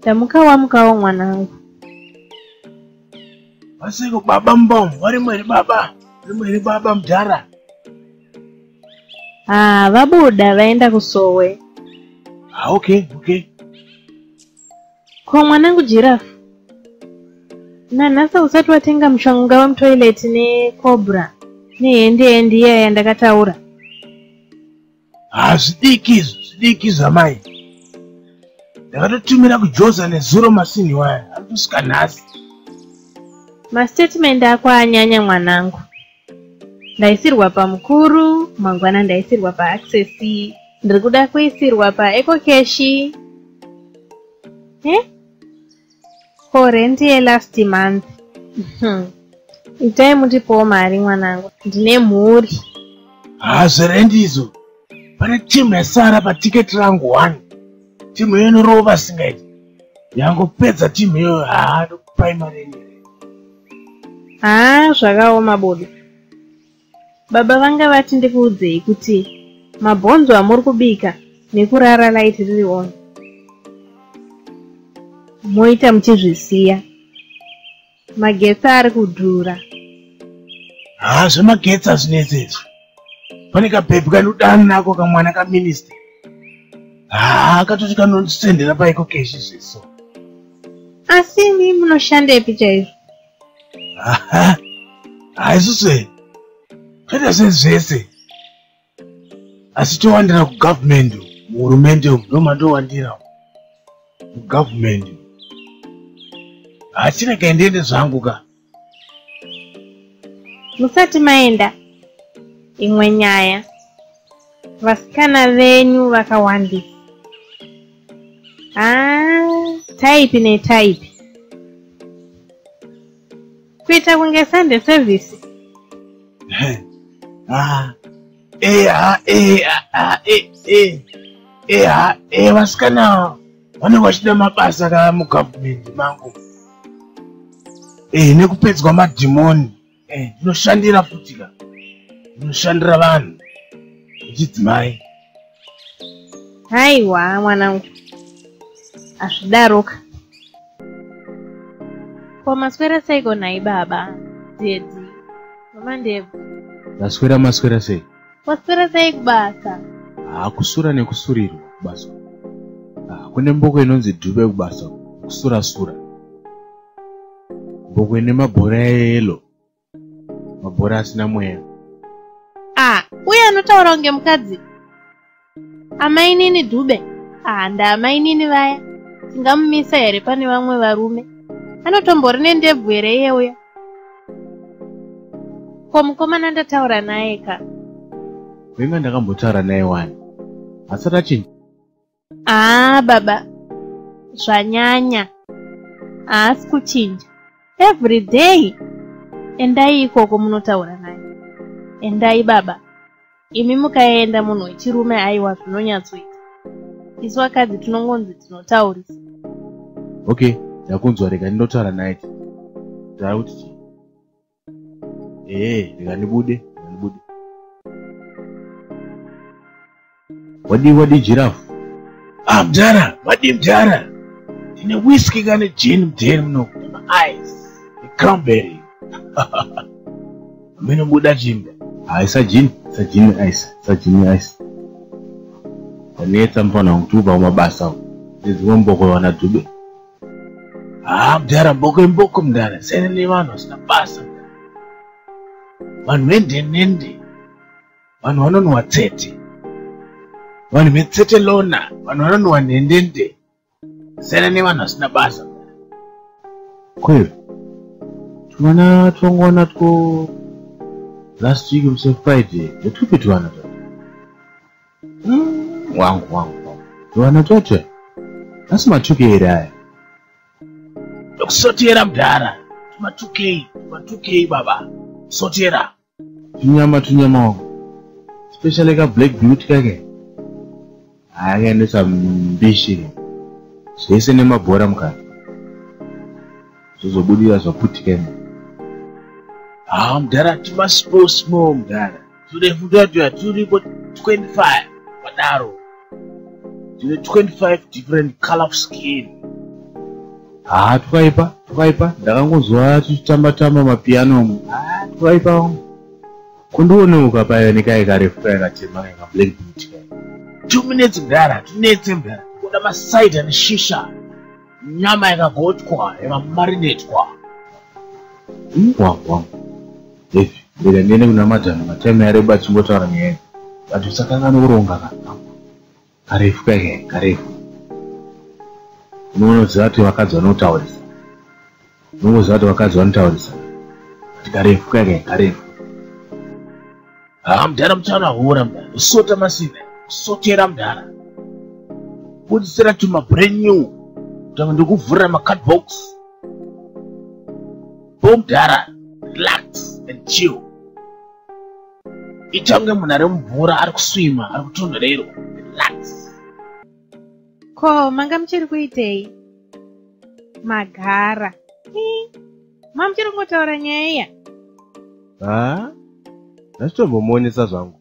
Tamuka wamukawo mwanangu. Vasiko baba mbom, vari mweri baba, vari mweri baba mdara. Ah, vabuda vaenda kusowe. Ah, okay, okay. Ko mwanangu giraffe. Nanhasa usati watenga mushonga wemutoilet necobra nehende hendi iya yandakataura. hazvidiki izvi zvidiki izvi amai ndakatotumira kujoza nezuro masini waya ari kusvika nhasi mastatement ako anyanya mwanangu ndaisirwa pamukuru mangwana ndaisirwa paaccess ndiri kuda kuisirwa paecocashi he for rent yelast month hmm. itai mutipowo mari mwanangu ndine mhuri haa zverendi izo pane timu yasara patiketi rangu one timu iyo inorova singaiti yangopedza timu iyo haa ndokupai mari yenyu haa zvakaoma bodo Baba vanga vati ndikuudzei kuti mabhonzo amuri kubika nekurara light riri on moita muchizvisiya magetsi ari kudhura haa zvemagetsi azvinetsi izvi pane kabhebhi kanodani nako kamwana kaminista haa katoti kanosendera paiko keshi zviso asi mi munoshandepi chaizvo haisuse toita zvinhu zvese asi towandira kugavhumendi muhurumende umu ndomandowandira mugavhumendi hachina kaendiende zvangu ka musati maenda imwe nyaya vasikana venyu vakawandisa ah, type netype kuita kunge sunday service ah, eh, ah, eh, ah, ah, eh, eh, eh, ah, eh, vasikana vanenge vachida mabasa ka mugovernment mangu eh, nekupedzwa madhimoni eh, ndinoshandira futi ka ndinoshandira vanhu vechidzimai haiwa mwanangu azvidaroka ko maswera seiko nhai baba dedi mama ndebvu ndaswera maswera sei waswera sei kubasa hakusura nekusurirwa kubasa ah, kune mboko inonzi dhube kubasa kusurasura bhuku ine mabhora eyelo mabhora asina mweya ah uye anotaura kunge mukadzi amainini dhube ah ndaamainini vaya tingamumisa here pane vamwe varume anotombori nendebvu here iye uya ko mukomana ndataura naye ka venga ndakambotaura naye wani asati achinja haa ah, baba zvanyanya haasi kuchinja every day endai ikoko munotaura naye endai baba imi mukaenda munhu wechirume aiwa zvinonyatsoita isu vakadzi tinongonzi tinotaurisa okay ndakunzwa rega ndinotaura naye taakuti chii ee eh, ndingandibude ndingandibude wadii wadii jirafu ah mdhara wadii mdhara ndine whisky kane jeni mdheni muno maaice necranberry amene buda chimda haisa ah, jini sa jini ice sa jini ice wanetsa mfana wangu tiubva kumabasa uko ndiziwe mboko wana dube haa mdara mboko imboko mdara sene nevanhu vasina basa vanhu vendenende vanhu vanonwa tsete vanhu vetsete lona vanhu vanonwa nhendende sene nevanhu vasina basa kweyo twana twangwana two last week mse friday ndotwupi twana wangu wangu wana chocho asi matuke here aya ndokusotera mudhara tumatukei tumatukei baba sotera tunyama tunyama wangu especially ka black beauty kake ayakaendesa mbishi zvese nemabhora mukati zvozobudira zvaputika imo haa ah, mudhara timasposmo mudhara turefu tatuya turipo 25 padaro tine 25 different color of skin haa twaipa twaipa ndakangonzwa tichitamba tamba mapiano mu haa twaipa kundioneuka paive nekai karefu kai katema kai kablack boot kai two minutes mdara tunetse mdara kuda masaita neshisha nyama yakagochwa yakamarinetwa wawwa efi ndega ndiende kuna madhani matime yareba achingotaura nyaya but usakan'ane kuronga ka karefu kaike karefu unoona kuti zati vakadzi vanotaurisa unongoziva kuti vakadzi vanotaurisa kuti karefu kaika karefu haa mudhara muchaona hura mudhara usota masive usotera mudhara budisira tuma brand new kutanga ndikuvhurira macard box bo mudhara relax and chill itange munhu ari mumvura ari kuswima ari kutonhorerwa ko manga muchiri kuitei magara ma muchiri kungotaura nyaya iya ha ndachitombomwonesa zvangu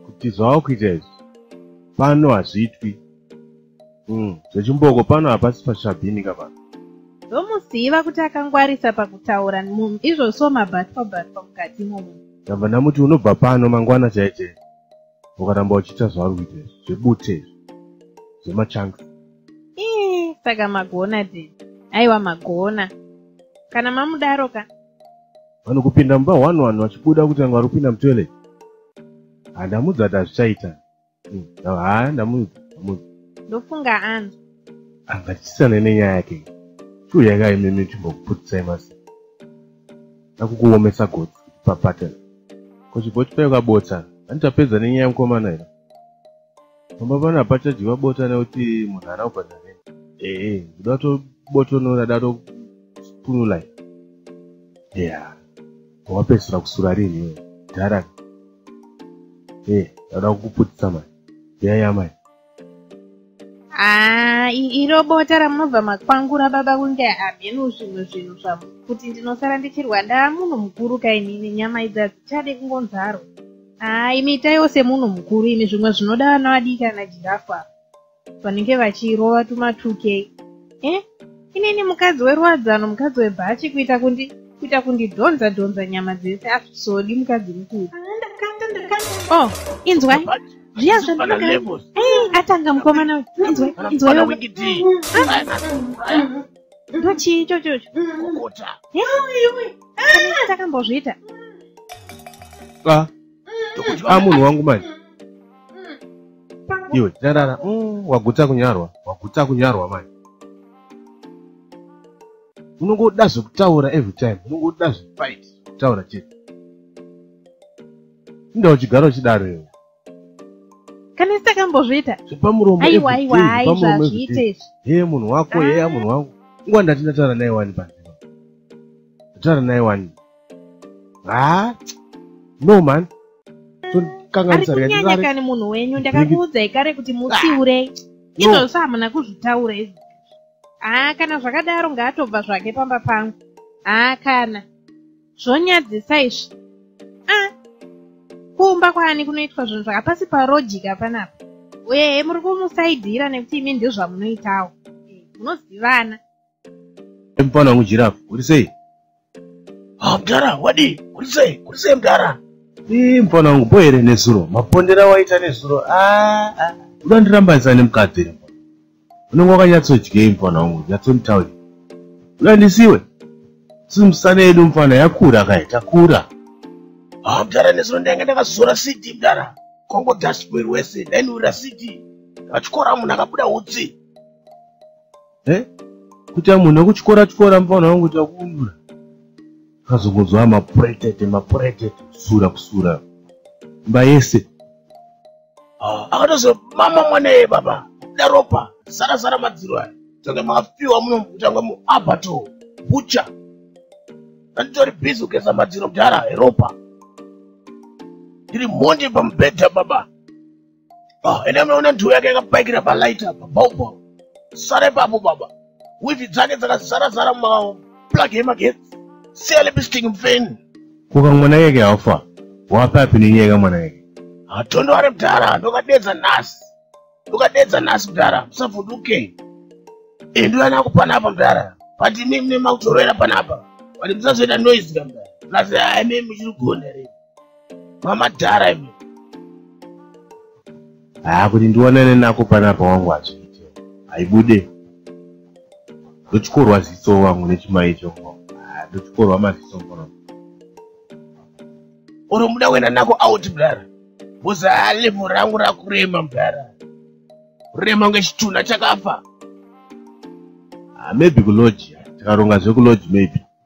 kuti zvava kuita izvi pano hazviitwi hmm, zvechimboko pano hapasi pashabhini kavana ndomuziva kuti akangwarisa pakutaura munhu izvozvo mabatwa batwa mukati momunhu ndamba ndamuti unobva pano mangwana chaichei ukaramba uchiita zvauri kuita izvi zvebute izvi zvemachanga ii saka magona de aiwa magona kana mamudaro ka vanhu kupinda mumba one one vachibuda kuti vanga vari kupinda mutoilet handamudzi ati hazvichaita hmm, haa ndamudzi ndamudzi ndofunga ani anga tichisane nenyaya yake shuya yakaimimi timbokuputisai masi nakukuomesa gotsi papattern kochiboti payo kabotsa ani tapedza nenyaya yemukomana here pamba pano hapachadyiwa bota nekuti munhu haana kubhadha hei ee ndoda tobotonora da topunulai ya wapedzisira kusura rinhiwe dharaka ee ndauda kukuputisa mani yaya mani haa iro bota ramunobva makwangura baba kunge hamheno zvimwe zvinhu zvavo kuti ndinosara ndichirwa ndaa munhu mukuru kainini nyama idzi hadzichade kungonzarwa haa imi itaiwo semunhu mukuru imi zvimwe zvinoda vana vadiki ana jirafu ava vanenge vachirova tumatuke eh? inini mukadzi weruwadzano mukadzi webhachi kuita kundi kuita kundidhonza dhonza nyama dzese asvisodi mukadzi mukuru o oh, inzwai zviya zvandinokaa eh, atanga mukomana uyu inzwai inzwai ndochii ichochocho takambozviita ndokudya ah, munhu wangu manje iwe tarara mm, waguta kunyarwa waguta kunyarwa manje unongoda zvekutaura every time unongoda zvefight kutaura chete inda uchigara uchidaro iwe kana sitakambozviita zvepamuromo aiwa aiwa aiwa zviite izvi hee munhu wako heya ah. munhu wangu nguva ndati ndataura naye wani panzima ndataura naye wani ha no man kanganisarikani munhu wenyu ndakakuudzai kare kuti mutsiurei ah. izvozvo hamuna kuzvitaura izvi haa kana zvakadaro ngaatobva zvake pamba pangu haa kana zvonyadzisa izvi a ah. kuumba kwaani kunoitwa zvinhu zvakapasi parojika panapa uye muri kumusaidhira nekuti imi ndizvamunoitawo munozivana Mfana wangu Giraffe, uri sei? Ah, mdara, wadi, uri sei? Uri sei mdara? Ii, mfana wangu boe here nezuro? Mapondera waita nezuro? Ah, ah. Uda ndirambanisa nemukadzi here mfana? Unenge wakanyatsodyei mfana wangu? Nyatsonditauri. Uda ndisiwe? Sisi musana yedu mfana yakura kai, takura. Ah, mdara nezuro ndainge ndakazora CD mdara. Kongo dashboard wese, ndainurira CD. Achikora munhu akabuda utsi. eh? kuti amunhu ekutyora tyora mufana wangu kuti akuundura akazongonzwa mapuretete mapuretete kusura kusura imba yese ah, akatozo mama mwana ye baba daropa sara sara madziro aya tange mafiwa muno kutanga muabato bucha anditori bizi kugeza madziro mudhara eropa ndiri mhondi pamubhedha baba Ah, ende munoona ndiwo yake yakapaikira palight apa baubo sara ipapo baba wivi dzake dzakazara zara mumaplug emagetsi siya lipisting mfeni kuka mwana yake hafa wapapi nenyaya ka mwana yake hatondo ari mdhara ndokadedza nhasi ndokadedza nhasi mdhara musavhunduke endu ana kupana apa mdhara but imi mune makutorovera panapa but musazoita noise ka mdhara plus aimi muchiri gone rei mamadhara imi haa kuti ndionane nako panapa wangu hazviite haibude ndochikorwa ziso wangu nechimai chongo ndochikorwa maziso ngono oro muda kuenda nako out mdara boza halevho rangu rakurema mdara rurema kunge chitunha chakafa ah, maybe kuloji tikaronga zvekuloji maybe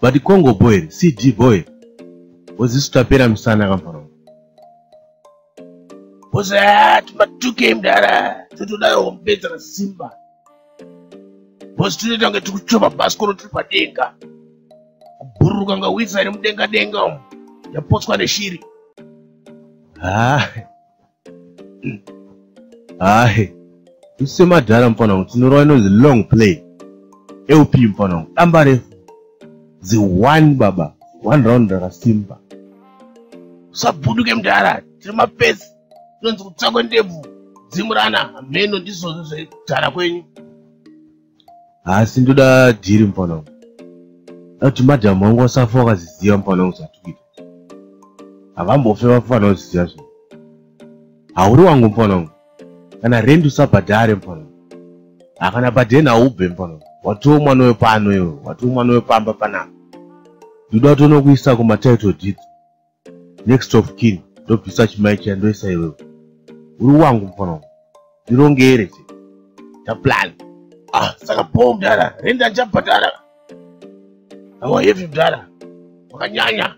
But Congo boy, CG boy. Wazisu tapera msana kamfana. Boss at ma 2k mdara. Tutudayo kumpedza na Simba. Boss tunoita kunge tikuchoma baskoro tiri padenga. Kubhururuka kunge witsa iri mudenga denga umu. Yapotswa neshiri. Ah. hahe usemadhara mfana wangu tinorova inonzi long play lp mfana wangu damba refu zi one baba one round rakasimba usabuduke mdhara tiri mapesi tinonzi kutsakwe ndebvu dzimurana hameno ndizvozvo zvedhara kwenyu haasi ndoda dhiri mufana wangu akuti madhamu wangu wasafa wakaziziva mufana wangu zvatukuita havambofe vafana waziziva zvinhu hauri wangu mufana wangu kana rendi usabhadhare mufana wangu hakana bhadheni haube mufana wangu watiwo mwana wepano iwe watiwo mwana wepamba panapa ndoda kuti unokuisa kumatitle deeds next of kin ndobvisa chimai chiya ndoisa iwewe uri wangu mufana wangu ndirongere che taplan ah saka bho mdara rendi andichabhadhara awa hevi mdara wakanyanya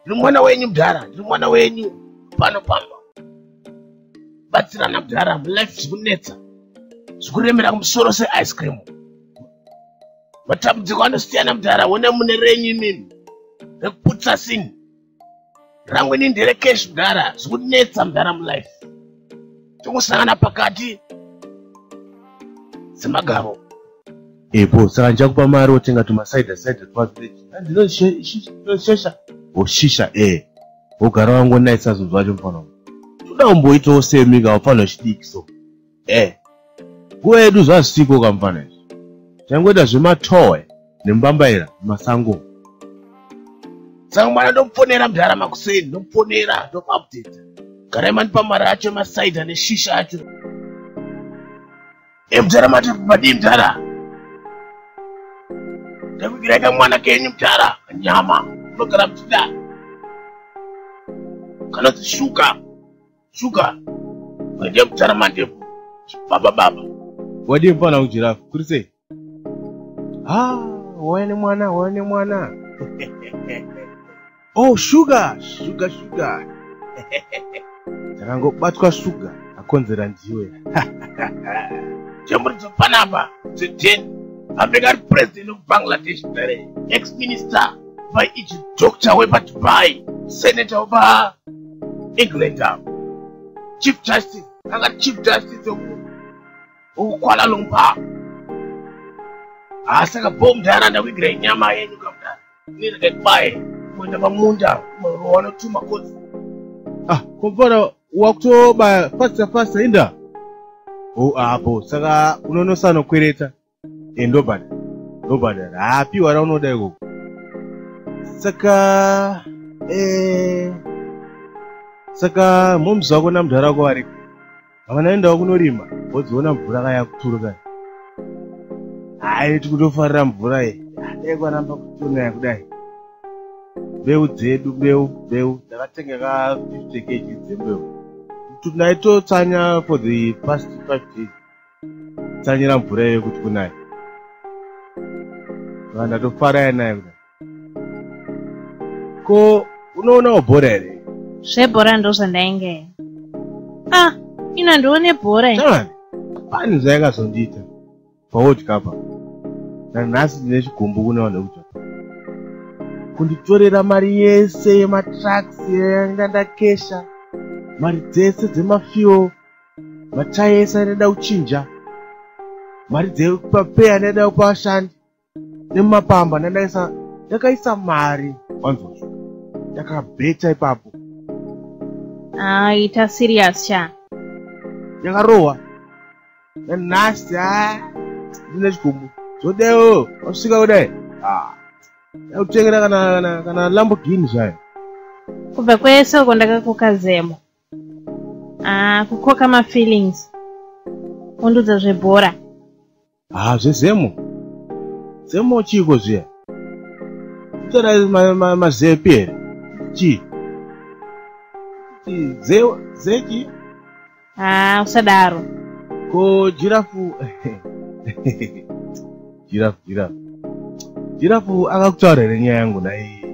ndiri mwana wenyu mdara ndiri mwana wenyu pano pamba batsirana mdara mulife zvikunetsa zvikuremera kumusoro seice cream matambudziko anosiyana mudhara wona mune renyu imimi rekuputsa sin rangu ini ndere cash mudhara zvikunetsa mudhara mulife tikusangana pakati semagaro epo saka ndichakupa mari wotenga tumasaida saida twazvinoshesha oshisha e eh. wogara wangonaisa zvinhu zvacho mufana toda umboitawo semika wafanira chidiki so eh nguva yedu zvazisiko kamfana izvi changoita zvematoe nembambaira masango saka mwana ndomufonera mdhara makuseni ndomufonera ndomuupdata garai mandipa mari acho emasaida neshisha acho e mdhara mati madii mdhara ndakuvirai kamwana kenyu mdhara nyama unogara mtida kana zishuka Sugar. Madia kutara mandepo. Baba baba. Wadii mfana ujirafu? Kuri sei? Ah, wauya nemwana, wauya nemwana. oh, sugar, sugar, sugar. Takangobatwa sugar akonzera ndiwe. Chamuri dzopanapa, dzoteni. Apeka ari president of Bangladesh dare, ex-minister, by each doctor wepa Dubai, senator wepa England avo. Chief Justice, anga Chief Justice of Kuala Lumpur. Asi aka bomb dara ndakuigira inyama yenyu kamdara. Nini kekbaye kuenda pamunda kumarowana tuma kozi. Ah, kompara wakutobaya fasta fasta inda. Oh, apo saka unonosano kwereta. e ndobhadha ndobhadhara haapiwa raunoda ikoko saka e, saka moms wako namudhara wako variko havanaendawo kunorima vodziona mvura kaya kuturuka hayi tikutofarira mvura ye dai kwaramba kutonaya kudai mbeu dzedu mbeu mbeu ndakatenga ka 50 kg dzembeu tinaitotsanya for the past five days tsanyira mvura iyoyo kuti kunaya vanhu ndatofara yanayo kudai ko unoonawo bhora here zvebhora ndo zvandainge ah ino handione bhora pani zvayakazondiita paworld cup nanhasi ndine chigumbu kune vanhu vekudya kunditorera mari yese yematraks yanga ndakesha mari dzese dzemafuel Matai ese anoda kuchinja mari dzepapei anoda kupa vashandi nemumapamba ndandaisa ndakaisa mari wanzozvo ndakabeta ipapo ah, ita serious sha ndakarohwa nanhasi a ah, ndine chigombo zvodewo wasvika kudai ah, yakutengera kana kana kana lamborghini zvayo kubva kwese uko ndakakukazemo ah, kukoka mafeelings undudza zvebhora haa ah, zvezemo zemo chiiko zviya kutora mazepi here chii zeki haa ah, usadaro ko jirafu jirafu jirafu jirafu akakutaura here nyaya yangu nai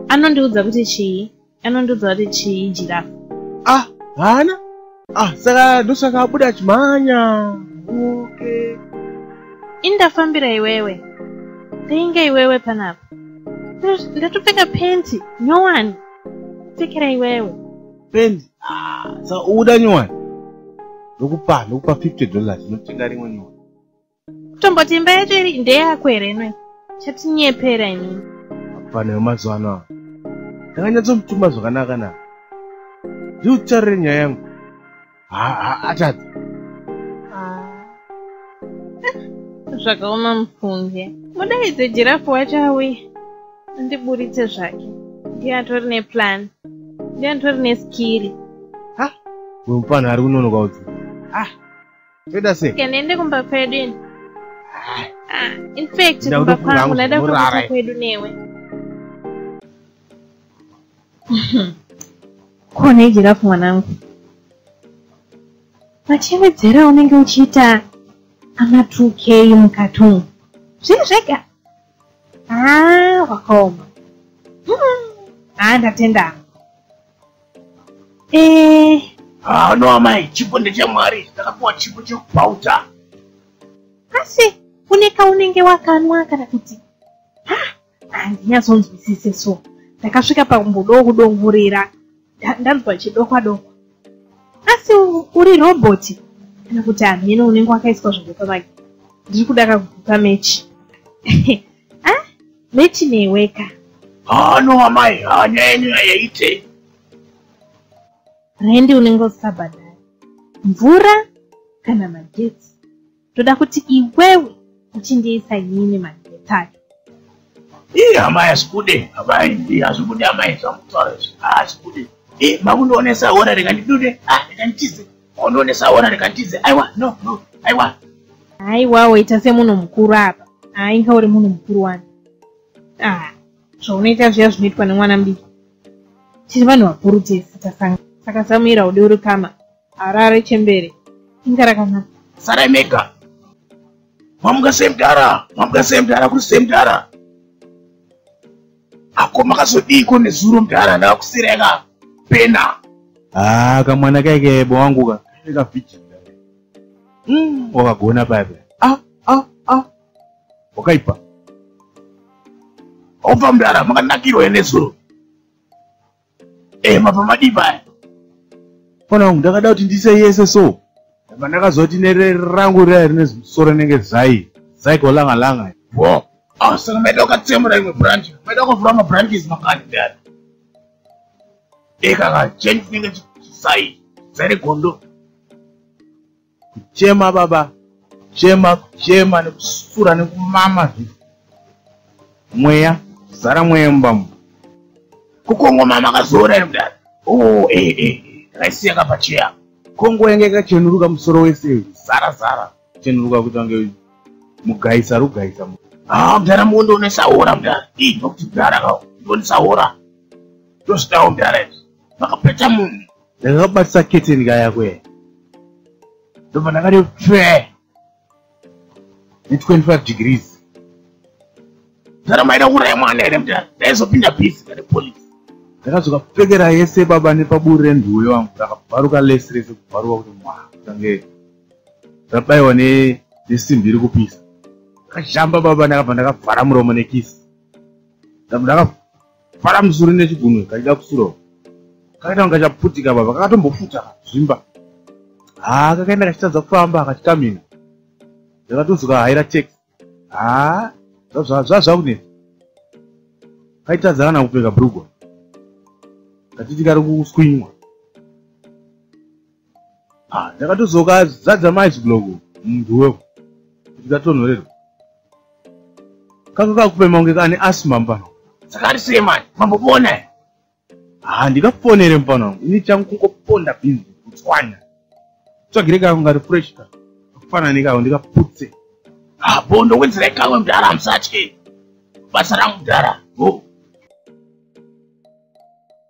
anondiudza kuti chii anondiudza kuti chii jirafu ah haana ah saka ndosaka abuda achimhanya okay indafambira iwewe ndainge iwewe panapa ndatopfeka penti nyowani pfekera iwewe penti ah, sa uda nyowani ndokupa ndokupa 50 dollars inotenga rimwe nyowani Tomboti imba yacho iri ndeyako here nwe? Chatinyepera ini. Hapana yemazuva ano awa. Ndakanyatsomutuma zvakanaka na. Ndiri kutarire nyaya yangu. Ha ha atadza. Ah. Zvakaoma mufunge. Mudaidze jirafu wacho awe. Ndiburitse zvake. Ndiye atori neplan. Ndiye atori neskiri. Ha? Uyu mupana ari kunonoka udzi. Ah. Toita sei? Okay, ndiende kumba kwedu ini. Ah, in fact kumba kwangu ndaida kuenda kwedu newe. Ko nei jirafu mwanangu? Machevedzera unenge uchiita ana 2k mukati umu. Zviri zvega. Ah, wakaoma. Hmm. Ah, ndatenda. Eh, ah, no amai, chipo ndechamwari, ndakapiwa chipo chekubhauta. Asi une kaunenge wakanwa kana kuti ha handinyazonzwisise so ndakasvika pakumbodawo kudongorera ndanzwa chidokwa dokwa asi uri roboti kana kuti hameno unenge wakaiswa zvinhu pamagi ndiri kuda kakuguka mechi Meti neweka. Ah no amai, ah nyaya yenyu yayaite. Rendi unenge usabhadhara. Mvura kana magetsi. Toda kuti iwewe uchindiisa nyini magetsi acho. Ii amai asikude, amai ndi azvikude amai zvamutaura izvi. Ah asikude. Eh makundoonesa hora rekandidude, ah rekandichize. Hondo nesaona rekandize. Aiwa, no, no. Aiwa. Aiwa, waita semunhu mukuru apa. Ah, inga uri munhu mukuru wani. Ah, zvaunoita zviya zvinoitwa nemwana mudiki. Tiri vanhu vakuru tese tasanga. Saka Samuera ude uri kama. Harare chembere. Inga rakanaka. Sarai mega. Mamuka semdara, mamuka semdara, kuri semdara. Ako makazodiiko nezuro mdara ndakusireka pena. Ah, kamwana kaike bo wangu ka. Ka vijin. Mm, wakagona paipe. Ah, ah, ah. Wakaipa. Opa mdara makanakirwa nezuro. Eh, mabva madii paya fana wangu ndakada kuti ndiise yese so ndabva ndakaziva kuti nere rangu riya rine zimusoro inenge zai zai kolanga langa wo ah, saka maida ukatsemura imwe branch maida ukavhura mabranches makati dani ekaka eh, change chinenge chisai zai regondo kuchema baba kuchema kuchema nekusura nekumama zvi mweya zara mweya mumbamu kukongo mama akazora iri kudai o oh, e eh, e eh, eh, akaisiya kapacheya kongo yange ikachenuruka musoro wese zara zara chenuruka kuita kunge mugaisa rugaisa haa ah, mdara muondionesa hora mdara ii nokuti mdara ka ndionesa hora ndozvitawo mdara izvi makapeta munhu ndakabatisa keteni kaya kwe ndobva ndakati pfe ne25 degrees ndanomaida kuuraya mwana here mda ndaizopinda bhizi kane police ndakadzoka pfekera yese baba nepaburi renduwe wangu ndakabvaruka lesi rese kubvaruka kuti mwa tange ndabaiwa nesimbi iri kupisa ndakazhamba baba ndakabva ndakavhara muromo nekisi ndakabva fara musuri nechigunwe kachida kusura uko kakaita kunge kachaputika baba kakatombofuta zvimba haa kakaenda kachitadza kufamba kachikamina ndakatozoka haira tax haa zvazvakunetsa kaitadza kana kupfeka brugwa katiti kari kuswinywa ndakatozoka ah, zadza maice block munhu wewo ndikatonhorerwa kaka kakupema kunge kane asima mupano saka ari sei mani mambopona he ha ah, ndikafonere mupano wangu ini changu kungoponda bhinzi kutswanya tsvagire kako ngari fresh ka akufanana nekako ndikaputse ha ah, bo ndowedzera ikawe mudhara hamusatye basa rangu mudhara bo oh.